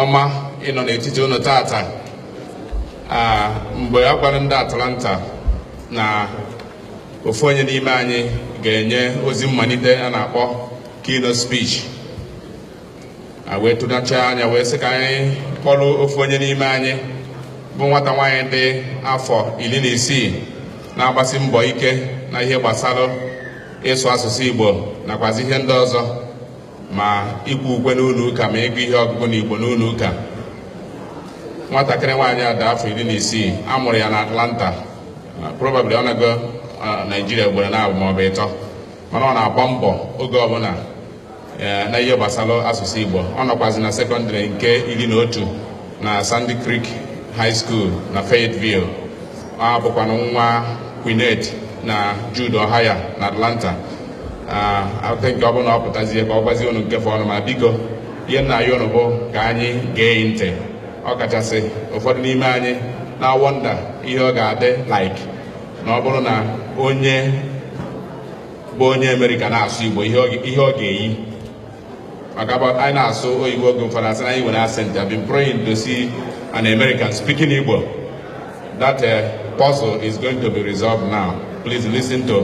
ọma ịnọ n'etiti unu taata mgbe a gwara ndị Atlanta na ofu onye n'ime anyị ga-enye ozi mmalite a na-akpọ keynote speech wee tụnacha anya wee sị ka anyị kpọrọ ofu onye n'ime anyị bụ nwata nwaanyị dị afọ iri na isii na-agbasi mbọ ike na ihe gbasara ịsụ asụsụ Igbo nakwazi ihe ndị ọzọ ma ikwe ukwe n'ụlọ ụka ma ịgụ ihe ọgụgụ na igbo n'ụlọ ụka nwatakịrị nwaanyị a dị afọ iri na isii a mụrụ ya na atlanta uh, probably ọ naago uh, naijiria ugboro naabọ maọbụ ịtọ mana ọ na-agba mbọ oge ọbụla uh, na ihe gbasara asụsụ igbo ọ nọkwazi na sekọndịrị nke iri na otu na sandy creek high school na fayetteville a bụkwanụ nwa Queenette na Jude Ohaya na Atlanta I think ọ bụrụ na ọ pụtazie ka ọ gwazie unu nke fọọnụ ma biko ihe m na-ayọ unu bụ ka anyị gee ntị ọ kachasị ụfọdụ n'ime anyị na-awọnda ihe ọ ga-adị like na ọ bụrụ na onye bụ onye Amerịka na-asụ Igbo ihe o ga-eyi Ọ ga-abụ anyị na-asụ oyibo oge ụfọdụ a sị na anyị nwere accent I've been praying to see an American speaking Igbo that uh, puzzle is going to be resolved now please listen to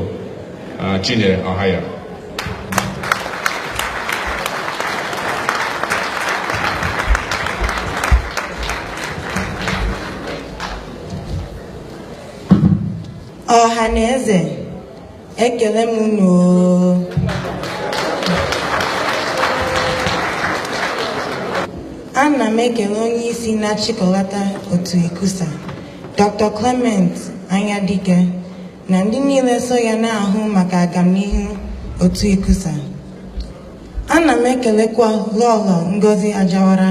uh, Chinyere Ohaya ọha na eze ekele m unu ana m ekele onye isi na-achịkọlata otu ICCUSA dr clement anyadike na ndị niile so ya na-ahụ maka agamnihu otu ICCUSA ana m ekelekwa lọlọ ngozi ajawara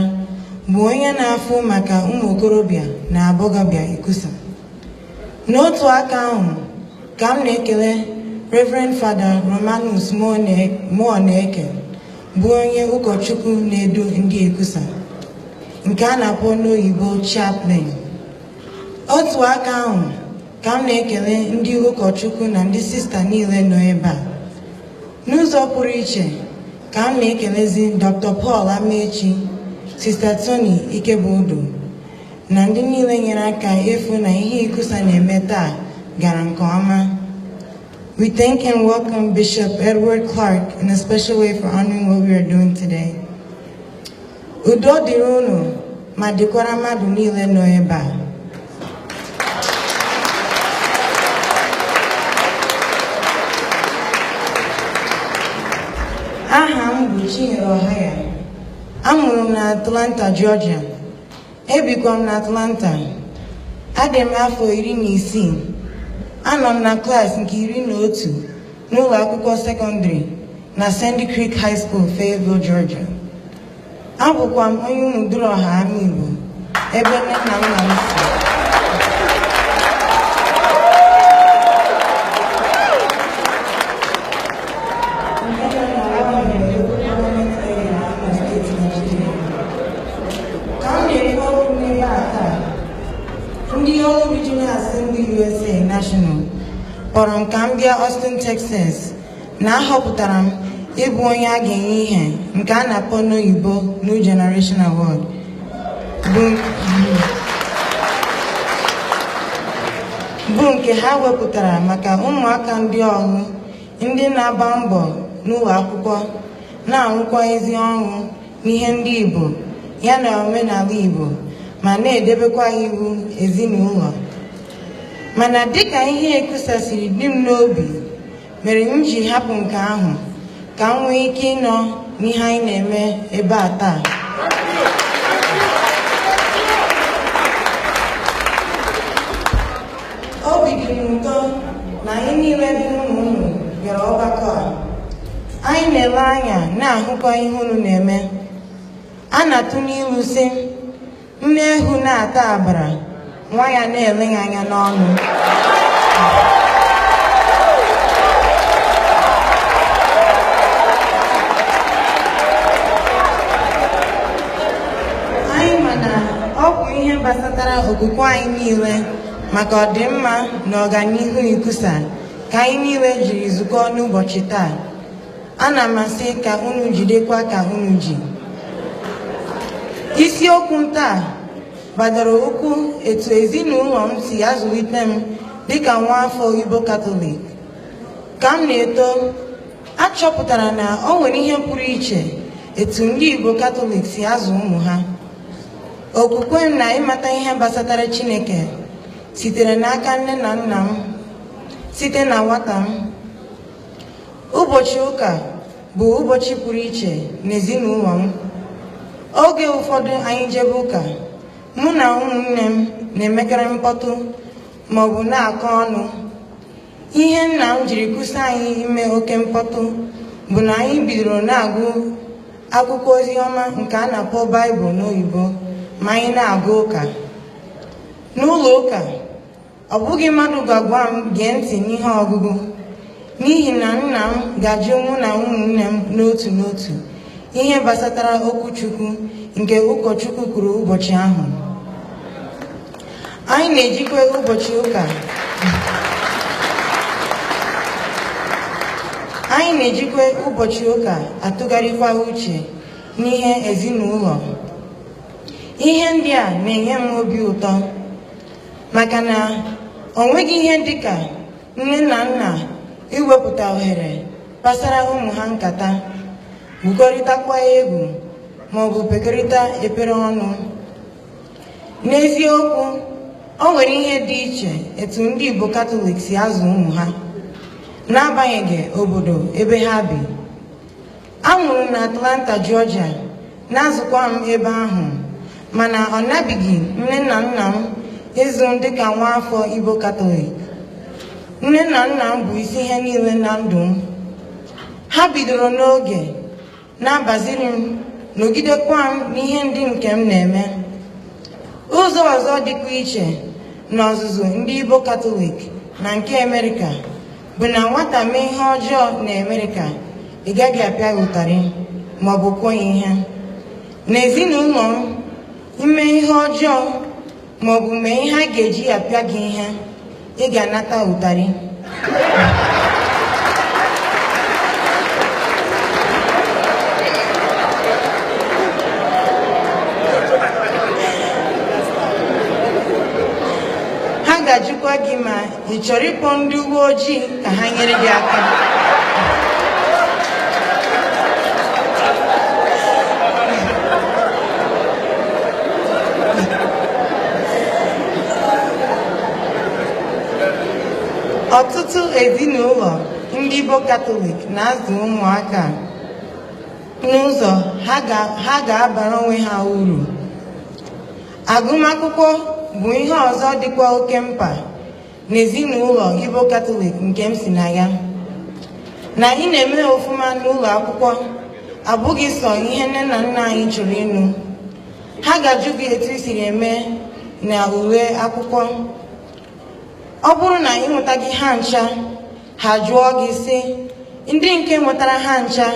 bụ onye na-afụ maka ụmụ okorobịa na agbọghọbịa ICCUSA n'otu aka ahụ ka m na-ekele Reverend Fada Romanus Muoneke bụ onye ụkọchukwu na-edu ndị ICCUSA nke a na-akpọ n'oyibo chaplain otu aka ahụ ka m na-ekele ndị ụkọchukwu na ndị sista niile nọ ebe a n'ụzọ pụrụ iche ka m na-ekelezi Dr. Paul Amaechi Sista Tony Ikebudu na ndị niile nyere aka ịfụ na ihe ikusa na-eme taa gara nke ọma We thank and welcome Bishop Edward Clark in a special way for honoring what we are doing today. Udo dịrị unu ma dịkwara mmadụ niile nọ ebe a. Aha m bụ Chinyere Ohaya. Amụrụ m na Atlanta, Georgia. Ebikwa m n'Atlanta. Adị m afọ iri na isii. Anọ m na klaasị nke iri na otu n'ụlọ akwụkwọ sekọndịrị na Sandy Creek High School, Fayetteville, Georgia. Abụkwa m onye Umuduruoha Amaigbo ebe nne na nna m si. ka m na-ekwu okwu n'ebe a taa ndị Orlu Regional Assembly USA National kpọrọ m ka m bịa Austin Texas na ahọpụtara m ịbụ onye a ga-enye ihe nke a na-akpọ n'oyibo New Generation Award bụ nke ha wepụtara maka ụmụaka ndị Orlu ndị na-agba mbọ n'ụlọ akwụkwọ na-arụkwa ezi ọrụ n'ihe ndị Igbo ya na omenala Igbo ma na-edebekwa iwu ezinụlọ mana dịka ihe ikusa siri dị m n'obi mere m ji hapụ nke ahụ ka m nwee ike ịnọ n'ihe anyị na-eme ebe a taa obi dị m ụtọ na anyị niile bụ ụmụ unu bịara ọgbakọ a anyị na-ele anya na-ahụkwa ihe unu na-eme a na-atụ n'ilu sị nne eghu na-ata agbara nwa ya na-ele ya anya n'ọnụ anyị ma na ọ bụ ihe gbasatara okwukwe anyị niile maka ọdịmma na ọganihu ikusa ka anyị niile jiri zukọọ n'ụbọchị taa ana m asị ka unu jidekwa ka unu ji isiokwu m taa gbadoro ụkwụ etu ezinụlọ m si azụlite m dịka nwa afọ Igbo Katọlik ka m na-eto achọpụtara na o nwere ihe pụrụ iche etu ndị Igbo Katọlik si azụ ụmụ ha okwukwe m na ịmata ihe gbasatara Chineke sitere n'aka nne na nna m site na nwata m ụbọchị ụka bụ ụbọchị pụrụ iche n'ezinụlọ m oge ụfọdụ anyị jebe ụka mụ na ụmụnne m na-emekarị mkpọtụ maọbụ na-akọ ọnụ ihe nna m jiri kwụsị anyị ime oke mkpọtụ bụ na anyị bidoro na-agụ akwụkwọ ozi ọma nke a na-akpọ baịbụl n'oyibo ma anyị na-aga ụka n'ụlọ ụka ọ bụghị mmadụ ga-agwa m gee ntị n'ihe ọgụgụ n'ihi na nna m ga-ajụ mụ na ụmụnne m n'otu n'otu ihe gbasatara okwu Chukwu nke ụkọchukwu kwuru ụbọchị ahụ anyị na-ejikwa ụbọchị ụka atụgharịkwa uche n'ihe ezinụlọ ihe ndị a na-enye m obi ụtọ maka na o nweghị ihe dịka nne na nna iwepụta ohere kpasara ụmụ ha nkata gwukọrịtakwa egwu maọbụ kpekọrịta ekpere ọnụ N'eziokwu, o nwere ihe dị iche etu ndị Igbo Katọlik si azụ ụmụ ha n'agbanyeghị obodo ebe ha bi. A mụrụ m na Atlanta, Georgia, na-azụkwa m ebe ahụ mana ọ nabighị nne na nna m ịzụ m dịka nwa afọ Igbo Katọlik. Nne na nna m bụ isi ihe niile na ndụ m. Ha bidoro n'oge na-agbaziri m nọgidekwa m n'ihe ndị nke m na-eme ụzọ ọzọ dịkwa iche n'ọzụzụ ndị Igbo Katọlik na nke Amerịka bụ na nwata mee ihe ọjọọ na Amerịka ị gaghị apịa ụtarị ma ọ bụ kụọ ya ihe n'ezinụlọ m i mee ihe ọjọọ ma ọ bụ mee ihe a ga-eji apịa gị ihe ị ga-anata ụtarị ha ga-ajụkwa gị ma ị chọrọ ịkpọ ndị uwe ojii ka ha nyere gị aka ọtụtụ ezinụlọ ndị Igbo Katọlik na-azụ ụmụaka n'ụzọ ha ga-abara onwe ha uru Agụmakwụkwọ bụ ihe ọzọ dịkwa oke mkpa n'ezinụlọ Igbo Katọlik nke m si na ya. Na anyị na-eme ọfụma n'ụlọ akwụkwọ abụghị sọ ihe nne na nna anyị chọrọ ịnụ. Ha ga-ajụ gị etu i siri eme na ule akwụkwọ. Ọ bụrụ na ị nwetaghị ha ncha, ha jụọ gị sị ndị nke nwetara ha ncha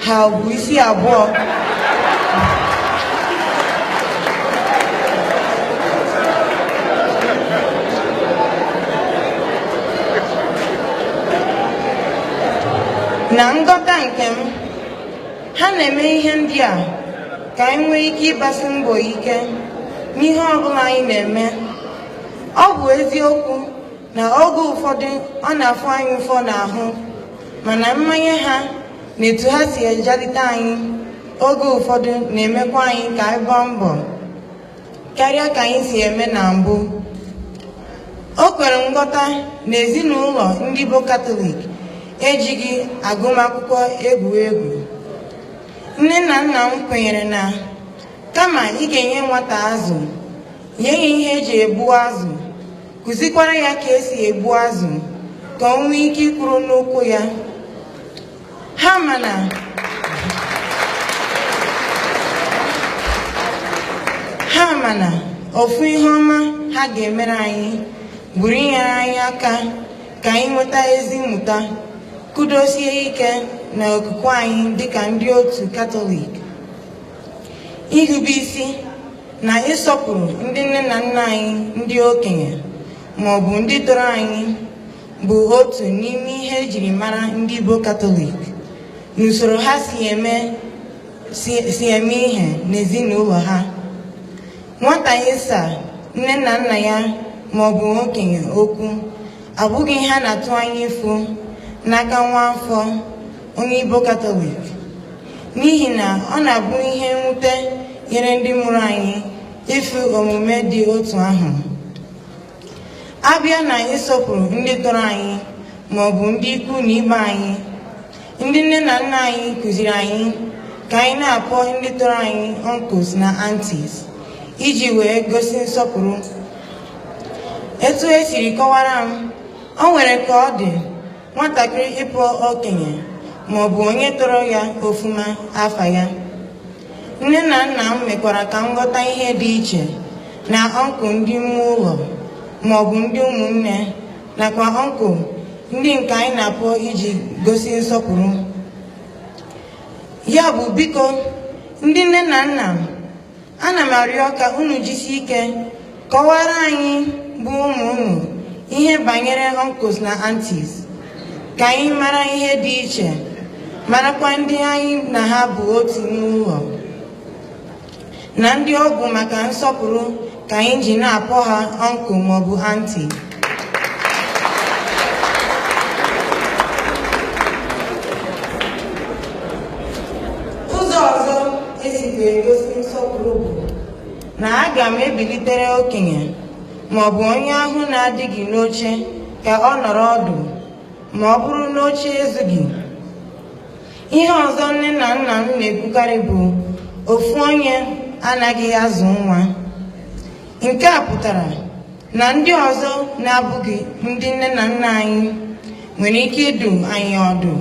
ha bu isi abụọ na nghọta nke m ha na-eme ihe ndị a ka anyị nwee ike ịgbasi mbọ ike n'ihe ọbụla anyị na-eme ọ bụ eziokwu na oge ụfọdụ ọ na-afụ anyị ụfụ n'ahụ mana mmanye ha na etu ha si ejalite anyị oge ụfọdụ na-emekwa anyị ka anyị gbaa mbọ karịa ka anyị si eme na mbụ o kwere nghọta na ezinụlọ ndị Igbo Katọlik ejighị agụmakwụkwọ egwu egwu nne na nna m kwenyere na kama ị ga-enye nwata azụ nye ya ihe eji egbu azụ kụzikwara ya ka esi egbu azụ ka ọ nwee ike ịkwụrụ n'ụkwụ ya ha ma na ha ma na ofu ihe ọma ha ga-emere anyị bụrụ inyere anyị aka ka anyị nweta ezi mmụta kwudosie ike na okwukwe anyị dịka ndị otu katọlik irube isi na ịsọpụrụ ndị nne na nna anyị ndị okenye ma ọ bụ ndị tọrọ anyị bụ otu n'ime ihe ejiri mara ndị Igbo Katọlik n'usoro ha si eme si eme ihe n'ezinụlọ ha nwata ịsa nne na nna ya ma ọ bụ okenye okwu abụghị ihe a na-atụ anya ịfụ n'aka nwa afọ onye Igbo Katọlik n'ihi na ọ na-abụ ihe mwute nyere ndị mụrụ anyị ịfụ omume dị otu ahụ a bịa na ịsọpụrụ ndị tọrọ anyị ma ọ bụ ndị ikwu na ibe anyị ndị nne na nna anyị kụziri anyị ka anyị na-akpọ ndị tọrọ anyị uncles na aunties iji wee gosi nsọpụrụ etu esiri kọwara m o nwere ka ọ dị nwatakịrị ịkpọ okenye ma ọ bụ onye tọrọ ya ọfụma afa ya nne na nna m mekwara ka m ghọta ihe dị iche na uncle ndị ime ụlọ ma ọ bụ ndị ụmụnne nakwa uncle ndị nke anyị na-akpọ iji gosi nsọpụrụ ya bụ biko ndị nne na nna m ana m arịọ ka unu jisi ike kọwara anyị bụ ụmụ unu ihe banyere uncles na aunties ka anyị mara ihe dị iche marakwa ndị anyị na ha bụ otu n'ụlọ na ndị ọ bụ maka nsọpụrụ ka anyị ji na-akpọ ha uncle ma ọ bụ auntie ụzọ ọzọ e sikwa egosi nsọpụrụ bụ na aga m ebilitere okenye ma ọ bụ onye ahụ na-adịghị n'oche ka ọ nọrọ ọdụ ma ọ bụrụ na oche ezughị ihe ọzọ nne na nna m na-ekwukarị bụ ofu onye anaghị azụ nwa nke a pụtara na ndị ọzọ na-abụghị ndị nne na nna anyị nwere ike ịdụ anyị ọdụ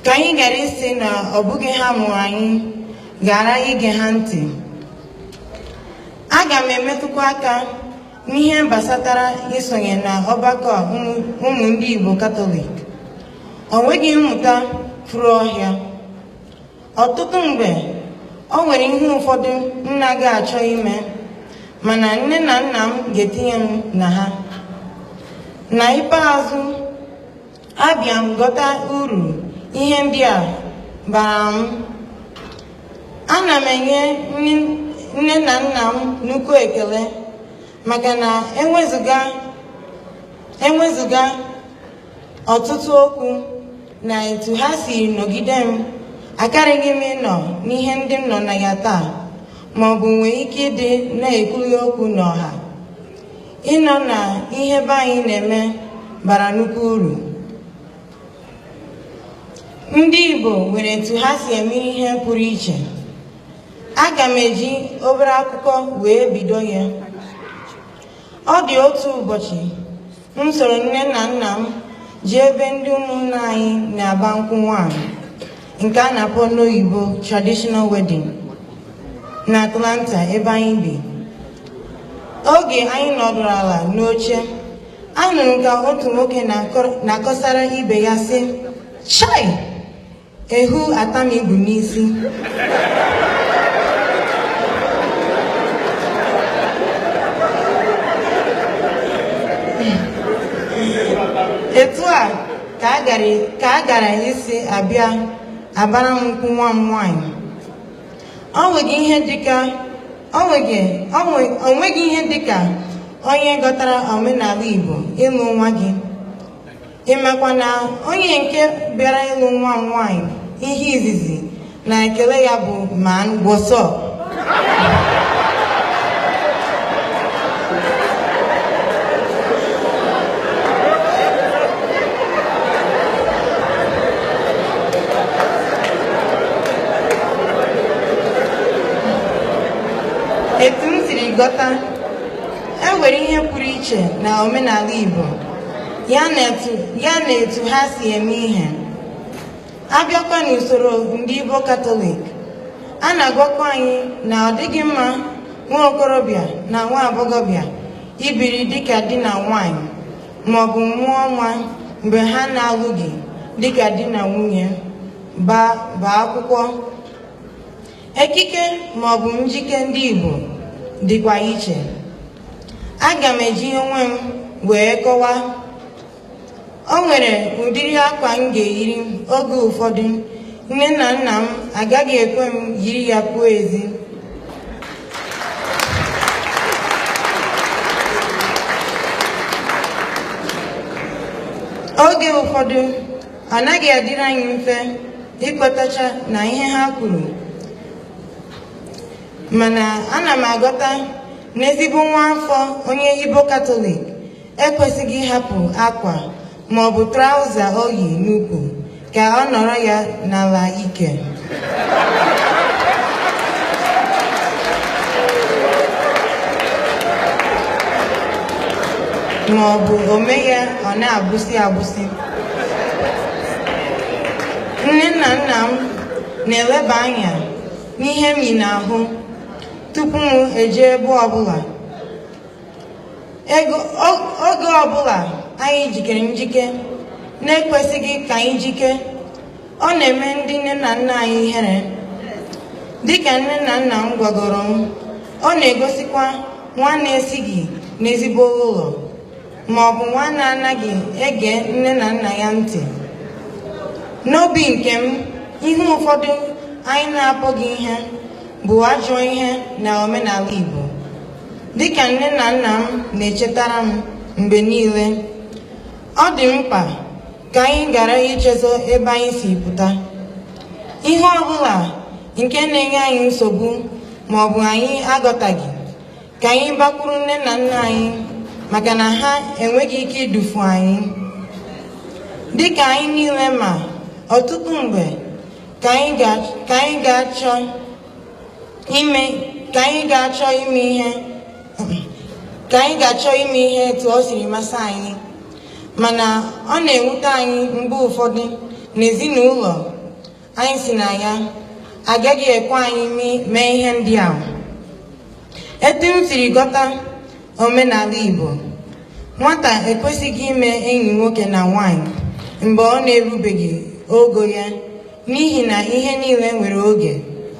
ka anyị ghara ịsị na ọ bụghị ha mụrụ anyị ghara ige ha ntị aga m emetụkwa aka n'ihe gbasatara isonye na ọgbakọ ụmụ ndị Igbo Katọlik o nweghị mmụta furu ọhịa ọtụtụ mgbe o nwere ihe ụfọdụ m naghị achọ ime mana nne na nna m ga-etinye m na ha na ikpeazụ abịa m ghọta uru ihe ndị a bara m ana m enye nne na nna m nnukwu ekele maka na enwezụga enwezụga ọtụtụ okwu na etu ha si nọgide m akaraghị m ịnọ n'ihe ndị m nọ na ya taa ma ọ bụ nwee ike ịdị na-ekwughị okwu n'ọha ịnọ na ihe be anyị na-eme bara nnukwu uru ndị Igbo nwere etu ha si eme ihe pụrụ iche aga m eji obere akụkọ wee bido ya ọ dị otu ụbọchị m soro nne na nna m jee ebe ndị ụmụnna anyị na-agba nkwụ nwaanyị nke a na-akpọ n'oyibo traditional wedding na Atlanta ebe anyị bi oge anyị nọdụrụ ala n'oche anụrụ m ka otu nwoke na-akọsara ibe ya sị chai Ewu ataa m igu n'isi. Etu a ka a gara ka a gara isi abịa agbara m nkwụ nwa m nwaanyị. O nweghị ihe dịka o nweghị o nwe- o nweghị ihe dịka onye ghọtara omenala Igbo ịlụ nwa gị. ị makwa na onye nke bịara ịlụ nwa m nwaanyị ihe izizi na ekele ya bụ man what's up etu m siri ghọta e nwere ihe pụrụ iche na omenala Igbo ya na etu ya na etu ha si eme ihe a bịakwa n'usoro ndị Igbo Katọlik a na-agwakwa anyị na ọ dịghị mma nwa okorobịa na nwa agbọghọbịa ibiri dịka di na nwaanyị maọbụ mụọ nwa mgbe ha na-alụghị dịka di na nwunye gbaa akwụkwọ ekike maọbụ njike ndị Igbo dịkwa iche aga m eji onwe m wee kọwa o nwere ụdịrị akwa m ga-eyiri oge ụfọdụ nne na nna m agaghị ekwe m yiri ya pụọ ezi oge ụfọdụ ọ naghị adịrị anyị mfe ịkwetacha na ihe ha kwuru mana ana m aghọta na ezigbo nwa afọ onye Igbo Katọlik ekwesịghị ịhapụ akwa ma ọ bụ traụza o yi n'ukwu ka ọ nọrọ ya n'ala ike ma ọ bụ o mee ya ọ na-agbụsị agbụsị nne na nna m na-eleba anya n'ihe m yi n'ahụ tupu m eje ebe ọbụla oge ọbụla anyị jikere njike na-ekwesịghị ka anyị jike ọ na-eme ndị nne na nna anyị ihere dịka nne na nna m gwagoro m ọ na-egosikwa nwa na-esighị n'ezigbo ụlọ ma ọ bụ nwa na-anaghị ege nne na nna ya ntị n'obi nke m ihe ụfọdụ anyị na-akpọghị ihe bụ ajọ ihe na omenala Igbo dịka nne na nna m na-echetara m mgbe niile ọ dị mkpa ka anyị ghara ichezo ebe anyị si pụta ihe ọ bụla nke na-enye anyị nsogbu ma ọ bụ anyị aghọtaghị ka anyị gbakwuru nne na nna anyị maka na ha enweghị ike idufu anyị dịka anyị niile ma ọtụtụ mgbe ka anyị ga-achọ ime ka anyị ga-achọ ime ihe ka anyị ga-achọ ime ihe etu ọ siri masị anyị mana ọ na-ewute anyị mgbe ụfọdụ n'ezinụlọ anyị sị na ya agaghị ekwe anyị mee ihe ndị ahụ etu m siri ghọta omenala Igbo nwata ekwesịghị ime enyi nwoke na nwanyị mgbe ọ na-erubeghị ogo ya n'ihi na ihe niile nwere oge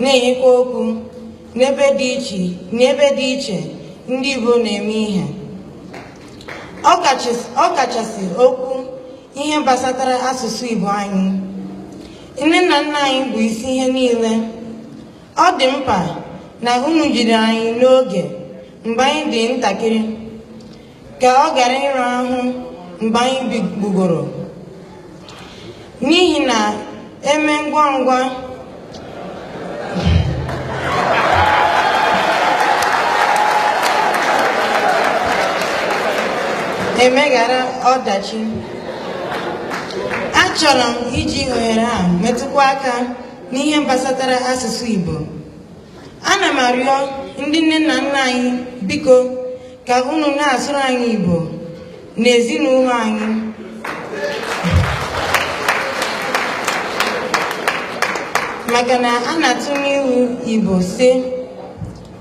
na-enyekwa okwu n'ebe dị iche n'ebe dị iche ndị Igbo na-eme ihe ọ kachasị okwu ihe gbasatara asụsụ Igbo anyị nne na nna anyị bụ isi ihe niile ọ dị mkpa na unu jiri anyị n'oge mgbe anyị dị ntakịrị ka ọ ghara ịra ahụ mgbe anyị gbagoro n'ihi na eme ngwa ngwa emeghara ọdachi achọrọ m iji ohere a metụkwa aka n'ihe gbasatara asụsụ Igbo ana m arịọ ndị nne na nna anyị biko ka unu na-asụrụ anyị Igbo n'ezinụlọ anyị maka na a na-atụ n'ilu Igbo sị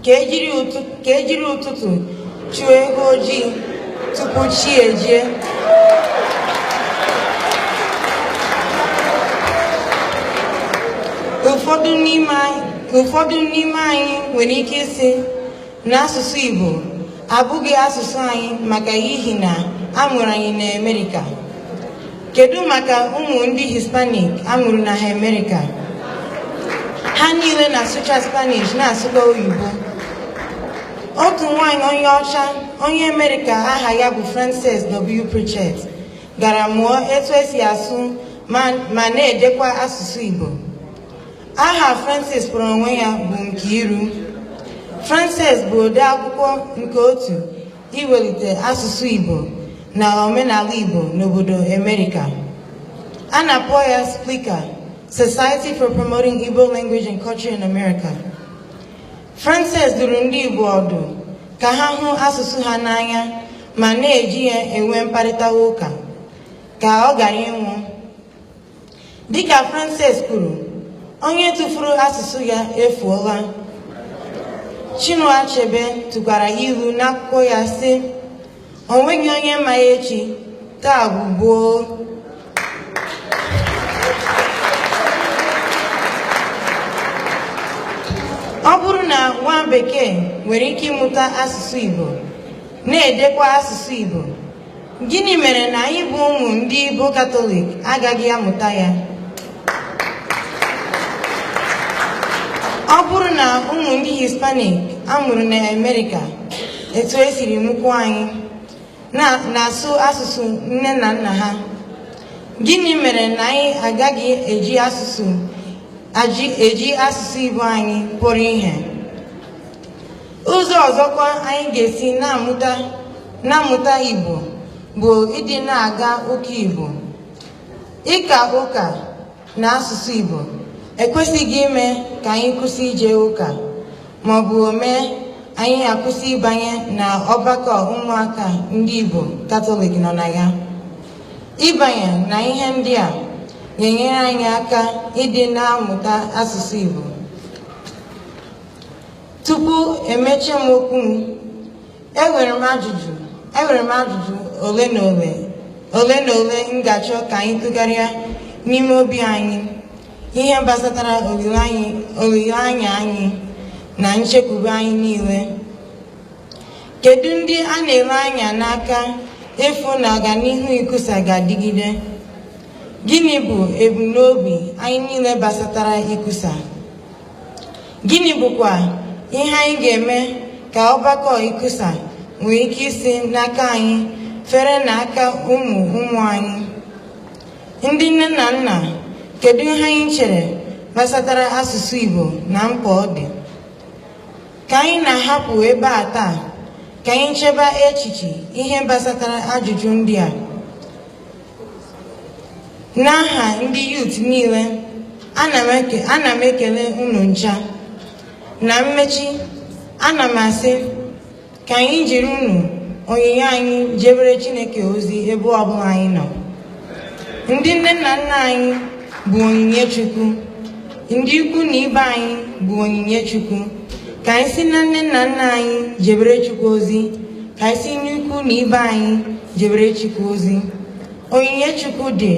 ka ejiri ụtụtụ ka ejiri ụtụtụ chụọ eghu ojii tupu chi ejie ụfọdụ n'ime anyị nwere ike ịsị na asụsụ Igbo abụghị asụsụ anyị maka ihi na a mụrụ anyị n'Amerika Kedu maka ụmụ ndị Hispanic a mụrụ na Amerịka? Ha niile na-asụcha Spanish na-asụkwa oyibo. Otu nwaanyị onye ọcha onye Amerịka aha ya bụ Frances W. Pritchett gara mụọ etu esi asụ ma na-edekwa asụsụ Igbo. Aha Frances kpọrọ onwe ya bụ Nkiru. Frances bụ ode akwụkwọ nke otu iwelite asụsụ Igbo na omenala Igbo n'obodo Amerika. A na-akpọ ya SPILCA, Society for Promoting Igbo Language and Culture in America. Frances duru ndị Igbo ọdụ ka ha hụ asụsụ ha n'anya ma na-eji ya enwe mkparịta ụka ka ọ ghara ịnwụ Dịka Frances kwuru, onye tụfuru asụsụ ya efuola. Chinua Achebe tụkwara ilu n'akwụkwọ ya sị, o nweghị onye ma echi, taa bụ gboo. Ọ bụrụ na nwa bekee nwere ike ịmụta asụsụ Igbo, na-edekwa asụsụ Igbo, Gịnị mere na anyị bụ ụmụ ndị Igbo Katọlik agaghị amụta ya? Ọ bụrụ na ụmụ ndị Hispanik a mụrụ na Amerịka etu e siri mụkwuo anyị na-asụ asụsụ nne na nna ha gịnị mere na anyị agaghị eji asụsụ eji asụsụ Igbo anyị kpọrọ ihe ụzọ ọzọkwa anyị ga-esi na-amụta na-amụta Igbo bụ ịdị na-aga ụka Igbo ịka ụka na asụsụ Igbo ekwesịghị ime ka anyị kwụsị ije ụka ma ọ bụ o mee anyị akwụsị ịbanye na ọgbakọ ụmụaka ndị Igbo Katọlik nọ na ya ịbanye na ihe ndị a na-enyere anyị aka ịdị na-amụta asụsụ Igbo Tupu emechie m okwu m, enwere m ajụjụ enwere m ajụjụ ole na ole ole na ole m ga-achọ ka anyị tụgharịa n'ime obi anyị ihe gbasatara olileanya anyị na nchekwube anyị niile kedu ndị a na-ele anya n'aka ịfụ na ọganihu ICCUSA ga-adịgide gịnị bụ ebumnobi anyị niile gbasatara ICCUSA Gịnị bụkwa ihe anyị ga-eme ka ọgbakọ ICCUSA nwee ike isi n'aka anyị fere n'aka ụmụ ụmụ anyị? Ndị nne na nna, kedu ihe anyị chere gbasatara asụsụ Igbo na mkpa ọ dị? Ka anyị na-ahapụ ebe a taa, ka anyị cheba echiche ihe gbasatara ajụjụ ndị a. n'aha ndị youth niile ana m ekele unu ncha na mmechi ana m asị ka anyị jiri unu onyinye anyị jebere chineke ozi ebe ọbụla anyị nọ ndị nne na nna anyị bụ onyinye chukwu ndị ikwu na ibe anyị bụ onyinye chukwu ka anyị si na nne na nna anyị jebere chukwu ozi ka anyị si n'ikwu na ibe anyị jebere Chukwu ozi onyinye Chukwu dị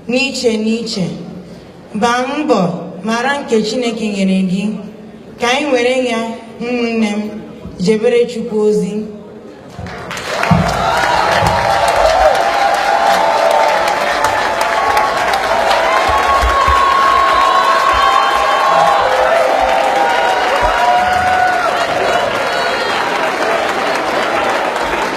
n'iche n'iche gbaa mbọ mara nke Chineke nyere gị ka anyị were ya ụmụnne m jebere Chukwu ozi